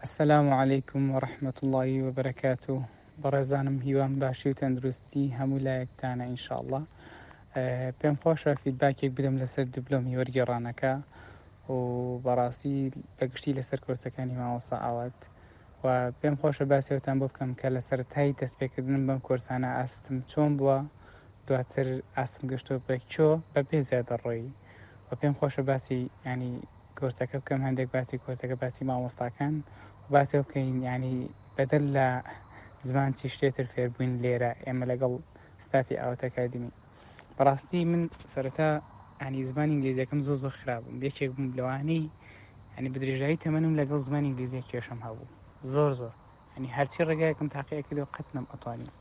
السلام علیکم و رحمت الله و برکاتو بەڕێزانم هیوام باشی و تەندروستی هەموو لایەکتانە ئینشاءله پێم خۆشە فیدباکێک بدەم لەسەر دبلۆمی وەرگێڕانەکە و بەڕاستی بەگشتی لەسەر کۆرسەکانی ماوەسا ئاوات و پێم خۆشە باسیەوتان بۆ بکەم کە لە سەرای دەستپێکردنم بەم کۆرسانە ئاستم چۆن بووە دواتر ئاسم گەشتۆ بەکۆ بە پێ زیادە ڕۆی و پێم خۆشە باسی ینی کۆرسەکە بکەم هەندێک باسی کۆرسەکە باسی مامۆستاکان و باسەوە بکەین یعنی بەدەر لە زمان چی شتێتر فێربووین لێرە ئێمە لەگەڵ ستافی ئاوتەکادمی بەڕاستی من سەرەتا ئەنی زمانی ئینگلیزیەکەم زۆ زۆ خراپم یەکێک بووم لەوانەی ئەنی بدرێژایی تەمەنم لەگەڵ زمانی ئینگلیزیە کێشم هەبوو زۆر زۆر یانی هەرچی ڕێگایەکم تاقیە کرد و قەت نەم ئەتوانی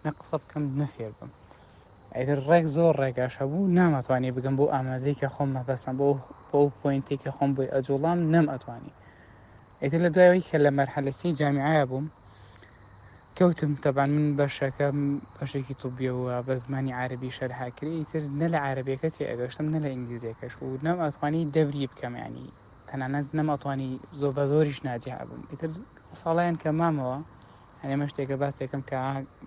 نە قسە بکەم نەفێر بم ئەگەر ڕێک زۆر ڕێگاش هەبوو نامەتوانی بگەم بۆ ئامادەیکە خۆم مەبەستمە بۆ بۆ پوینتێکە خۆم بۆی ئەجوڵام نەم ئەتوانی ئێتر لە دوایەوەی کە لە مەرحەلەسی جامیعە بووم کەوتم تەبان من بەشەکە بەشێکی توبیەوە بە زمانی عربی شەرهاکرێتر نە لە عربەکە تێ ئەگەشتم نە لە ئینگلیزیەکەش و نەم ئەتوانی دەبری بکەمیانی تەنانەت نەماتوانی زۆر بە زۆریش ناجیها بم ئیتر ساڵیان کە مامەوە هەنێمە شتێکە باسێکم کە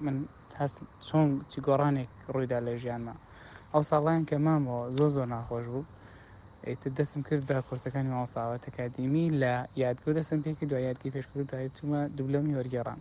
من هەست چۆن چی گۆڕانێک ڕوویدا لە ژیانمە ئەو ساڵیان کە مامەوە زۆر زۆر ناخۆش بوو ئیتر دەستم کرد بە کورسەکانی ماوەساوە تەکادیمی لە یادگە دەستم پێکی دو یادگەی پێشکرد دوای چوومە دوبلۆمی وەرگێڕان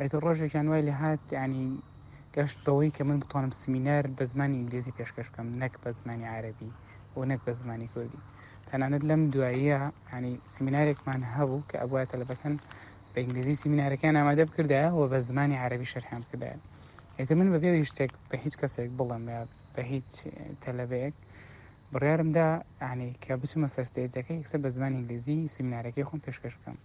ئیتر ڕۆژێکیان وای لێ هات ینی گەشت بەوەی کە من بتوانم سمینار بە زمانی ئینگلیزی پێشکەش بکەم نەک بە زمانی عربی و نەک بە زمانی کوردی تەنانەت لەم دواییە ینی سمینارێکمان هەبوو کە ئەبواە تەلبەکەن بە ئینگلیزی سمینارەکان ئامادە بکردە و بە زمانی عربی شەرحان بکردە ئێتە من بەبێ شتێک بە هیچ کەسێک بڵم بە هیچ تەلەبەیەک بڕارمدا ینی کە بچمە سەرستێجەکە یکسەر بە زمانی ئینگلیزی سمینارەکەی خۆم پێشکەش بکەم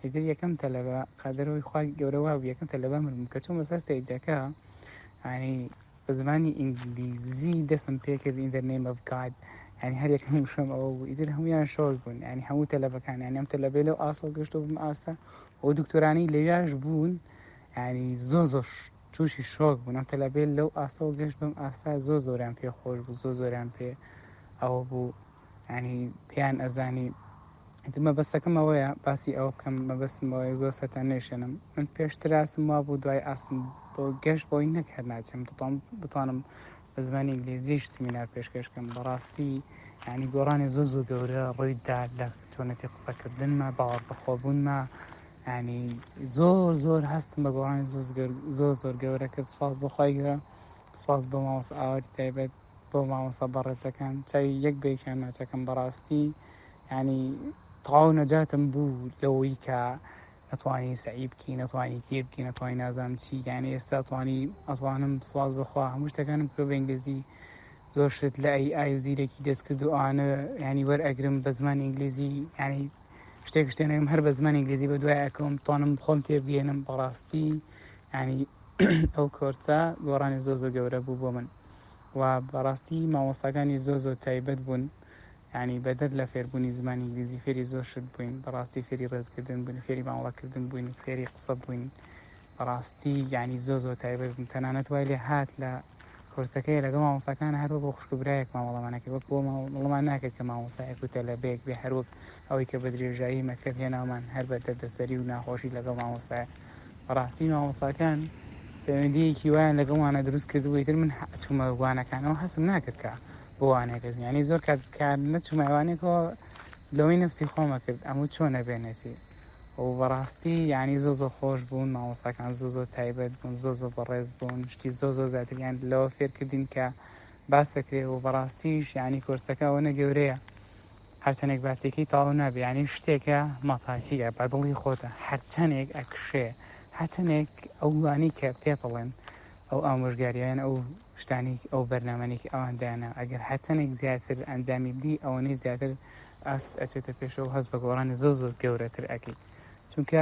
ئیتر یەکەم تەلەبە قەدەرەوەی خوا گەورە وابوو یەکەم تەلەبە من بووم کە چووم بەسەر ستەیجەکە یانی بە زمانی ئینگلیزی دەستم پێکرد in the name of God ینی هەر یەکەم وشەم ئەوە بوو ئیتر هەمویان شۆک بوون ینی هەموو تەلەبەکان یانی ئەم تەلەبەی لەو ئاسڵ گەشت بم ئاستە ئەو دکتۆرانی لەویاش بوون ینی زۆ زۆر تووشی شۆک بوون ئەم تەلەبێت لەو ئاستەوە گەشت بم ئاستا زۆ زۆران پێ خۆش بوو زۆ زۆران پێ ئەوە بوو ینی پێیان ئەزانی مەبەستەکەم ئەوەیە باسی ئەو بکەم مەبەستمەوەی زۆر سەرتا نێشێنم من پێشتراسم وا بوو دوای ئاسم بۆ گەشت بۆی نەکرد ناچم دەتوان بتوانم بە زمانی ئینگلیزیش سمینار پێشکەشکەم بەڕاستی ینی گۆڕانی زۆ زۆ گەورە ڕوویدا لە چۆنەتی قسەکردنمە باوەڕ بەخۆبوونمە ینی زۆر زۆر هەستم بە گۆڕانی زۆر زۆر گەورە کرد سپاس بۆخوای گەورە سپاس بۆ ماوەس ئاوەری تایبەت بۆ مامۆستا بەڕێزەکان چاوی یەک بێکیان ناچەکەم بەڕاستی ینی تەواو نەجاتم بوو لەوەی کە نەتوانی سعی بکی نەتوانی تێ بکی نەتوانی نازام چی یانە ئێستا توانی ئەتوانم سواز بخوا هەموو شتەکانم کرۆ بەنگێزی زۆر شت لە ئەی ئای و زیرەکی دەست کرد و ئەوانە ینی وەر ئەگرم بە زمان ئینگلیزی ینی شتێک شتێنم هەر بە زمان ئینگلیزی بە دوای ئەکەم توانم خۆم تێبگەێنم بەڕاستی ینی ئەو کۆرسە گۆڕانی زۆ زۆ گەورە بوو بۆ من و بەڕاستی مامۆستاکانی زۆر زۆر تایبەت بوون یعنی بەدەر لە فێربوونی زمانی ئینگلیزی فێری زۆر شت بووین بەڕاستی فێری ڕێزکردن بووین فێری مامەڵەکردن بووین فێری قسە بووین بەڕاستی یعنی زۆر زۆر تایبەت بوون تەنانەت وای لێ هات لە کورسەکەی لەگە مامۆساکان هەروە بۆ خوشکبرایەک مامەڵەمانەکە وەک بۆ مڵمان ناکرد کە مامۆسایەک و تەلەبێک بێ هەروەک ئەوەی کە بە درێژایی مەکتەب هێنامان هەر بە دەردەسەری و ناخۆشی لەگەڵ مامۆستایە بەڕاستی مامۆستاکان پەیوەندیەکی وایان لەگەڵمانە دروست کردو ئیتر من چوومە وانەکانەوە هەستم ناکرد کە بۆ وانەکەش یانی زۆر کات کار نەچوومایوانێکەوە لەوەی نفسی خۆمە کرد ئەمە چۆنە بێنێتی و بەڕاستی یانی زۆ زۆ خۆش بوون مامۆستاکان زۆ زۆ تایبەت بوون زۆ زۆ بەڕێز بوون شتی زۆ زۆ زیاتریان لەوە فێرکردین کە باسەکرێ و بەڕاستیش یانی کۆرسەکە ئەوەنە گەورەیە هەرچەنێک باسیکەی تەواو نابێ یانی شتێکە مەتاکیە بە دڵی خۆتە هەرچەنێک ئەکشێ هەچەنێک ئەو گوانی کە پێتڵێن ئەو ئامۆژگاریان ئەو شتانی ئەو بەرنمەێک ئەوان دایانە ئەگەر هەچەنێک زیاتر ئەنجامی بدی ئەوەی زیاتر ئاست ئەچێتە پێشەوە هەست بە گۆڕانی زۆ زۆر گەورەتر ئەەکەیت چونکە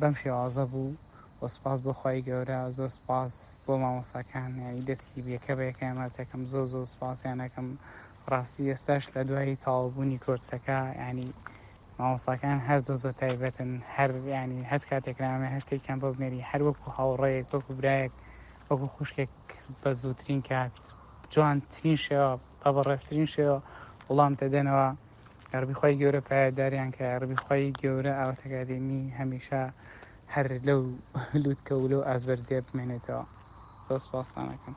بەم شێوازە بوو و سوپاس بۆ خوای گەورە زۆر سوپاس بۆ مامۆستاکان یانی دەستی بێکە بە یەکەیان مەرجەکەم زۆر زۆر سوپاسیانەکەم ڕاستی ئێستاش لە دوای تاوابوونی کۆرسەکە ینی مامۆساکان هەر زۆ زۆ تایبەتن هەر ینی هەست کاتێک نامێ هەشتێکیان بۆ بنێری هەر وەکو هاوڕەیەک وەکو برایەک وەکو خوشکێک بە زووترین کات جوانترین شێوە بە بەڕێزترین شێوە وڵام دەدەنەوە یاڕەبی خوای گەورە پایەداریان کە یاڕەبی خوای گەورە ئاواتەگادێنی هەمیشە هەر لەو لوتکە و لەو ئازبەرزیە بمێنێتەوە زۆر سپاسانەکەم